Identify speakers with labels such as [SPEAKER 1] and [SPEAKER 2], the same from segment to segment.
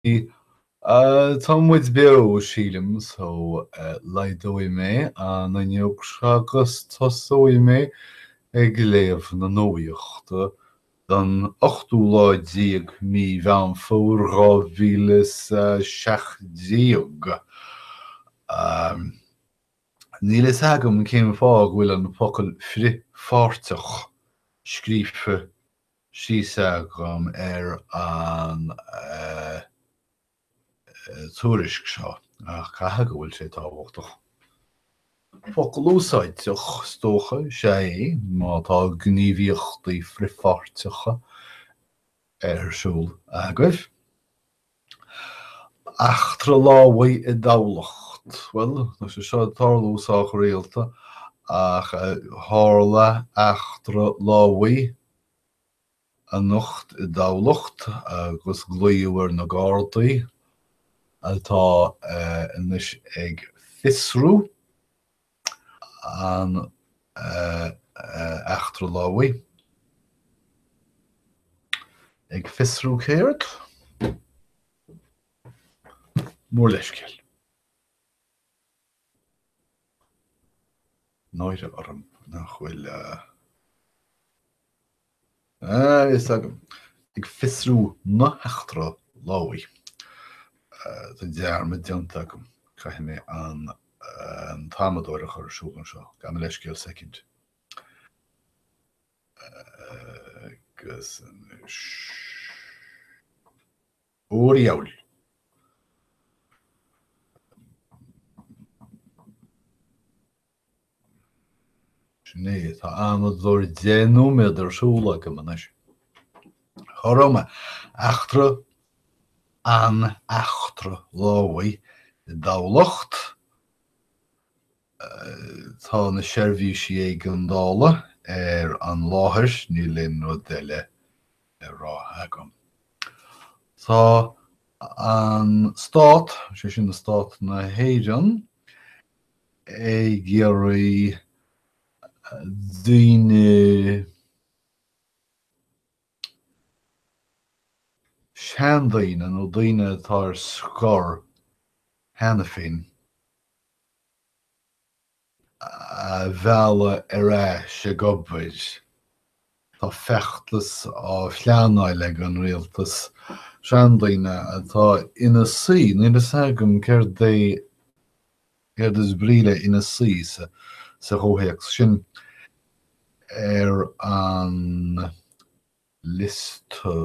[SPEAKER 1] Tá muid beo, sílim, so laghdóidh mé an fhuinneog seo agus tosóidh mé ag léamh na nuachta don ochtú lá déag mí Mheán Fómhair dhá mhíle is a seacht déag. Níl a fhios agam cén fáth go bhfuil an focal 'frithpháirteach' scríofa síos agam ar an tuairisc seo ach caithfidh go bhfuil sé tábhachtach. Focal úsáideach is dócha is ea é má tá gníomhaíochtaí frithpháirteacha ar siúl agaibh. Eachtra lámhaigh i dTamhlacht. Bhuel, tá sé seo ag tarlú sách rialta ach tharla eachtra lámhaigh anocht i dTamhlacht agus glaodh ar na Gardaí atá anois ag fiosrú. an eachtra lámhaigh ag fiosrú céard? mór leithscéal. náire orm nach bhfuil. a fhios agam. Ag fiosrú na heachtra lámhaigh. Tá dearmad déanta agam. Caithfidh mé an t-amadóir a chur ar siúl anseo. Gabh mo leithscéal soicind. Agus anois. Ó, a Dhiabhail! Sin é. Tá amadóir deich nóiméad ar siúl agam anois. Cá raibh mé. Eachtra an eachtra lámhaigh i dTamhlacht. Tá na seirbhísí éigeandála ar an láthair, níl aon rud eile le rá agam. Tá an Stát, sé sin Stát na hÉireann, ag iarraidh daoine seandaoine nó daoine atá ar scor cheana féin a mhealladh ar ais ag obair Tá feachtas á phleanáil ag an rialtas seandaoine atá ina suí, níl fhios agam céard é céard is brí le ina suí sa chomhthéacs sin, ar an liosta,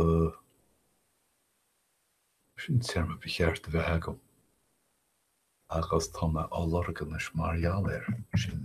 [SPEAKER 1] sin téarma ba cheart a bheith agam agus tá mé á lorg anois mar gheall ar sin.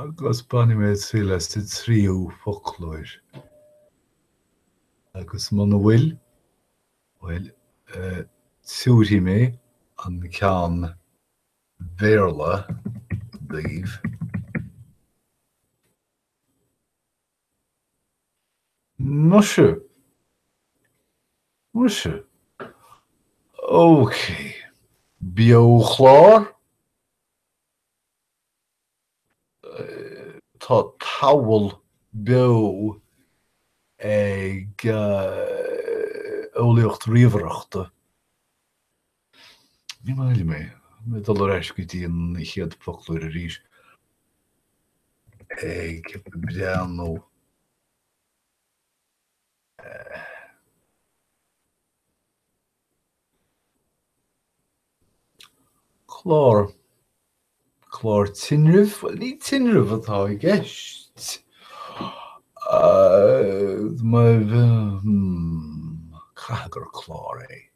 [SPEAKER 1] agus bainfidh mé triail as an tríú foclóir agus muna bhfuil, bhuel, tiúrfaidh mé an ceann Béarla daoibh. Muise. Muise. Ócé. Beo-chlár? Tá tábla beo ag eolaíocht ríomhaireachta. Ní maith liom é. Mé ag dul ar ais go dtí an chéad fhoclóir arís. Ag breathnú. Clár. Clár tinrimh? Bhuel, ní tinreamh atá i gceist. Caithfidh gur clár é.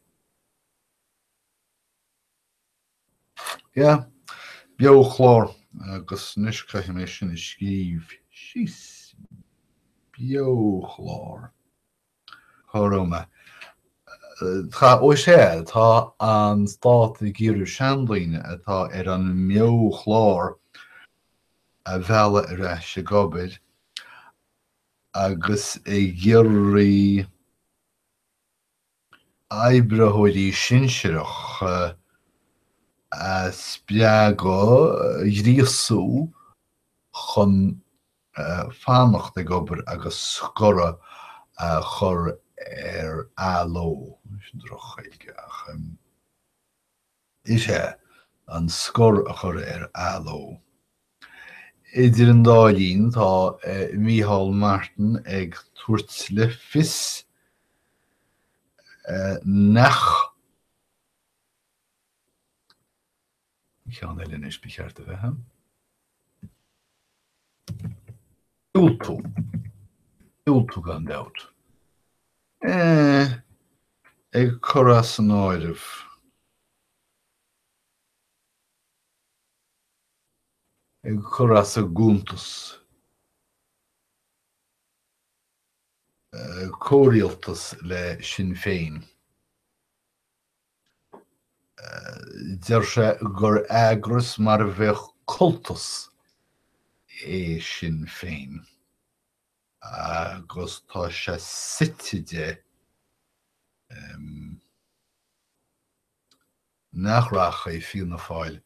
[SPEAKER 1] Yeah. Beochlár. Agus anois caithfidh mé sin a scríobh síos. Beochlár. Ghorma. Tá, ó sea, tá an stát ag iarraidh seandaoine atá ar an mbeochlár a mhealladh ar ais ag obair agus ag iarraidh oibritheoirí sinsearacha a spreagadh, a ghríosú chun fanacht ag obair agus scoradh a chur ar athló, sin drochGhaeilge ach is ea, an scor a chur ar athló. Idir an dá linn tá Micheál Martin ag tabhairt le fios nach. ceann eile is, ba cheart a bheith ann. Diúltú. Diúltú gan dabht. Eh, ag cur as an áireamh. ag cur as an gcuntas. Eh, comhrialtas le Sinn Féin. Deir sé gur eagras mar a bheadh cultas é Sinn Féin agus tá sé suite de nach rachaidh Fianna Fáil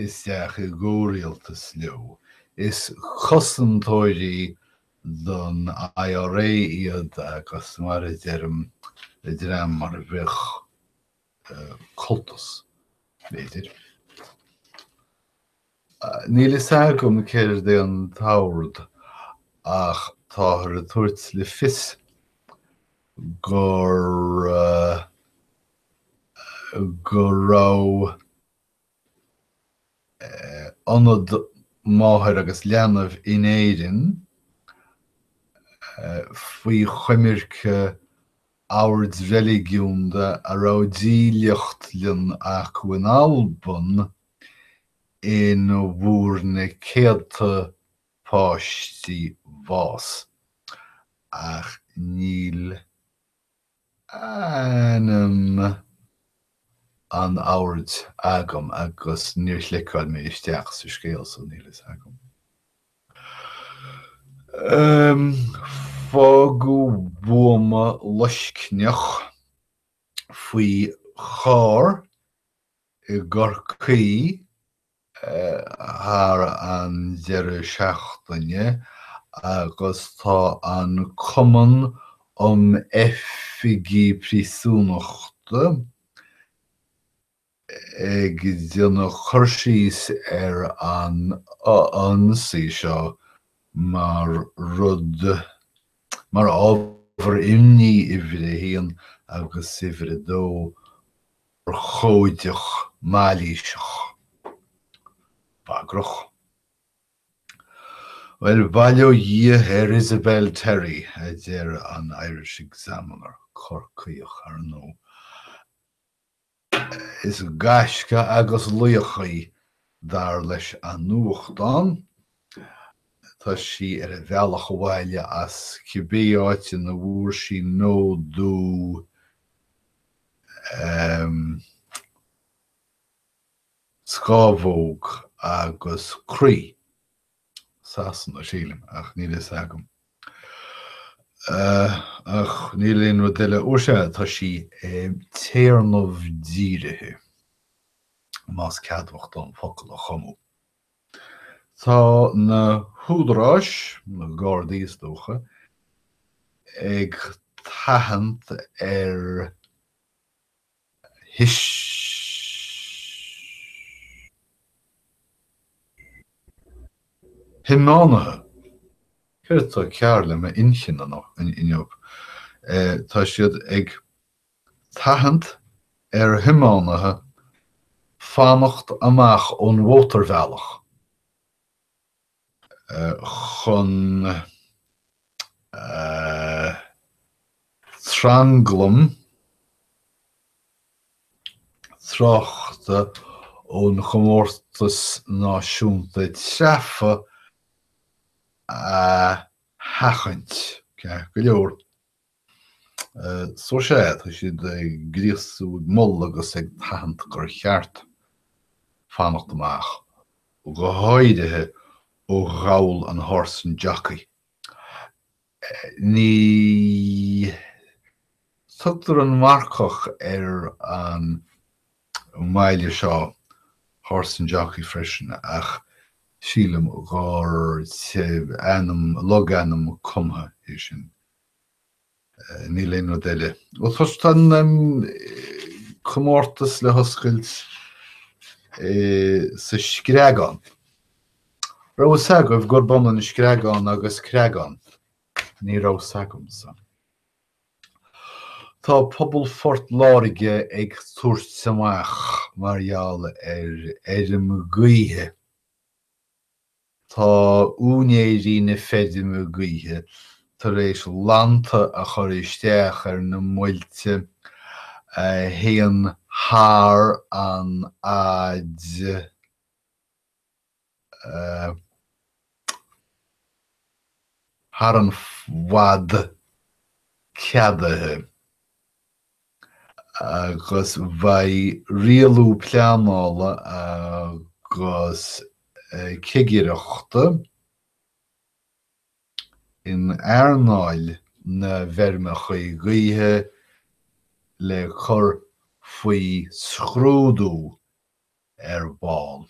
[SPEAKER 1] isteach i gcomhrialtas leo. Is cosantóirí don IRA iad agus mar a deirim, dream mar a bheadh cultas, b'fhéidir. Níl fhios agam céard é an t-ord ach táthar ag tabhairt le fios gur. go raibh ionad máthair agus leanbh in Éirinn faoi choimirce oird reiligiúnda a raibh dílleachtlann acu in Alban ina bhfuair na céadta páistí bás, ach níl. ainm an oird agam agus níor chliceáil mé isteach sa scéal so níl fhios agam. Ahem. Fágadh buama loiscneach faoi charr i gCorcaigh. thar an deireadh seachtaine agus tá an Cumann um Oifigigh Príosúnachta ag déanamh cur síos ar an ionsaí seo mar rud, mar ábhar imní uimhir a haon agus uimhir a dó. urchóideach mailíseach, bagrach? Bhuel, bail ó Dhia ar Isabelle Terry, a deir an Irish Examiner, Corcaíoch, ar ndóigh. Is gaisce agus laoch í, dar leis an nuachtán. Tá sí ar a bealach abhaile as cibé áit ina bhfuair sí nódú. scámhóg agus croí Sasana a sílim ach níl a fhios agam. Ach níl aon rud eile fhuair sé tá sí ag téarnamh dírithe más ceadmhach dom focal a chumadh. Tá na húdaráis, na Gardaí is dócha, ag tathant ar thiománaithe, céard atá cearr le m'inchinn inniu, tá siad ag. Tathant ar thiománaithe fanacht amach ón mhótarbhealach chun tranglam tráchta ón gComórtas Náisiúnta Treabhtha a sheachaint. So sea, tá siad ag gríosú, ag moladh agus ag tathant gur cheart fanacht amach, go háirithe ó ghabhal an Horse and Jockey. Ní thugtar An Marcach ar an mbaile seo Horse and Jockey freisin ach sílim gur ainm, logainm cumtha é sin. Níl aon rud eile. Bhuel, tosóidh, tá an comórtas le hoscailt sa Screagán. Raibh a fhios agaibh gurb ionann screagán agus creagán? Ní raibh a fhios agamsa. Tá pobal Phort Láirge ag tabhairt amach mar gheall ar fheirm ghaoithe. Tá úinéirí na feirme gaoithe tar éis lannta a chur isteach ar na muilte a théann thar an fhad, thar an bhfad ceadaithe. agus beidh rialú pleanála agus cigireachta in earnáil na bhfeirmeacha gaoithe le cur faoi scrúdú. ar ball.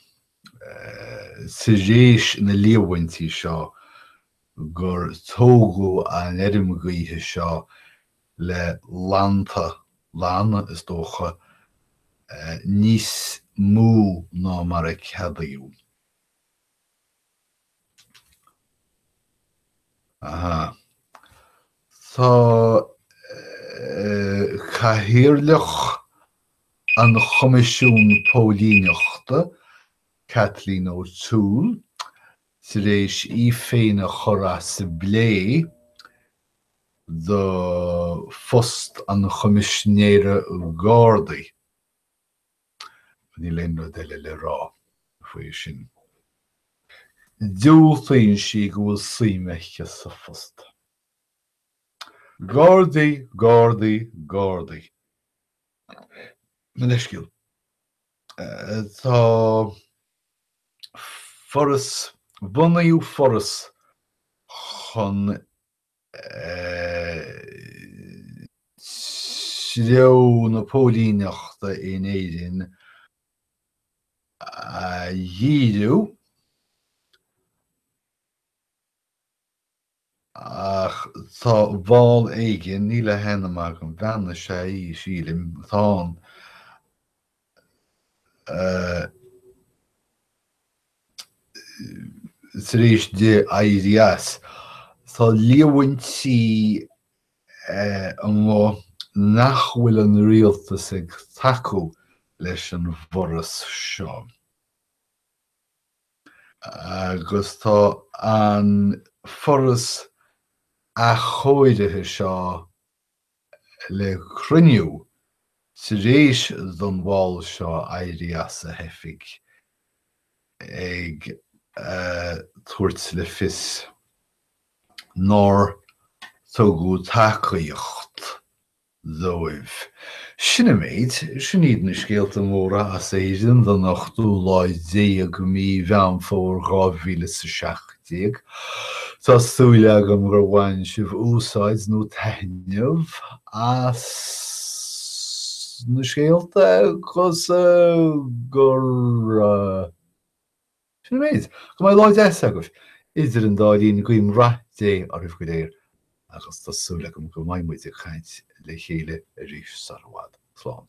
[SPEAKER 1] Tar éis na líomhaintí seo gur tógadh an fheirm gaoithe seo le lannta, lanna, is dócha, níos mó ná mar a ceadaíodh, Tá Cathaoirleach an Choimisiún Póilíneachta, Kathleen O'Toole, tar éis í féin a chur as as plé do phost an Choimisinéara Gardaí. Níl aon rud eile le rá faoi sin. Diúltaíonn sí go bhfuil suim aici sa phost. Gardaí, Gardaí, Gardaí. Mo leithscéal. Tá foras, bunaíodh foras chun. treo na póilíneachta in Éirinn a dhíriú ach tá ball éigin, níl a hainm agam, bean is ea í, sílim, atá ann, tar éis di éirí as. Tá líomhaintí ann nach bhfuil an rialtas ag tacú leis an bhforas seo agus tá an foras athchóirithe seo le cruinniú tar éis don bhall seo éirí as a hoifig ag tabhairt le fios nár tugadh tacaíocht dóibh. Sin an méid. Sin iad na scéalta móra as Éirinn don ochtú lá déag i mí Mheán Fómhair dhá mhíle is a seacht. déag. Tá súil agam gur bhain sibh úsáid nó taitneamh as na scéalta agus gur. Sin an méid. Go mbeidh lá deas agaibh. Idir an dá linn, guím rath Dé oraibh go léir agus tá súil agam go mbeidh muid ag caint le chéile arís sar i bhfad. Slán.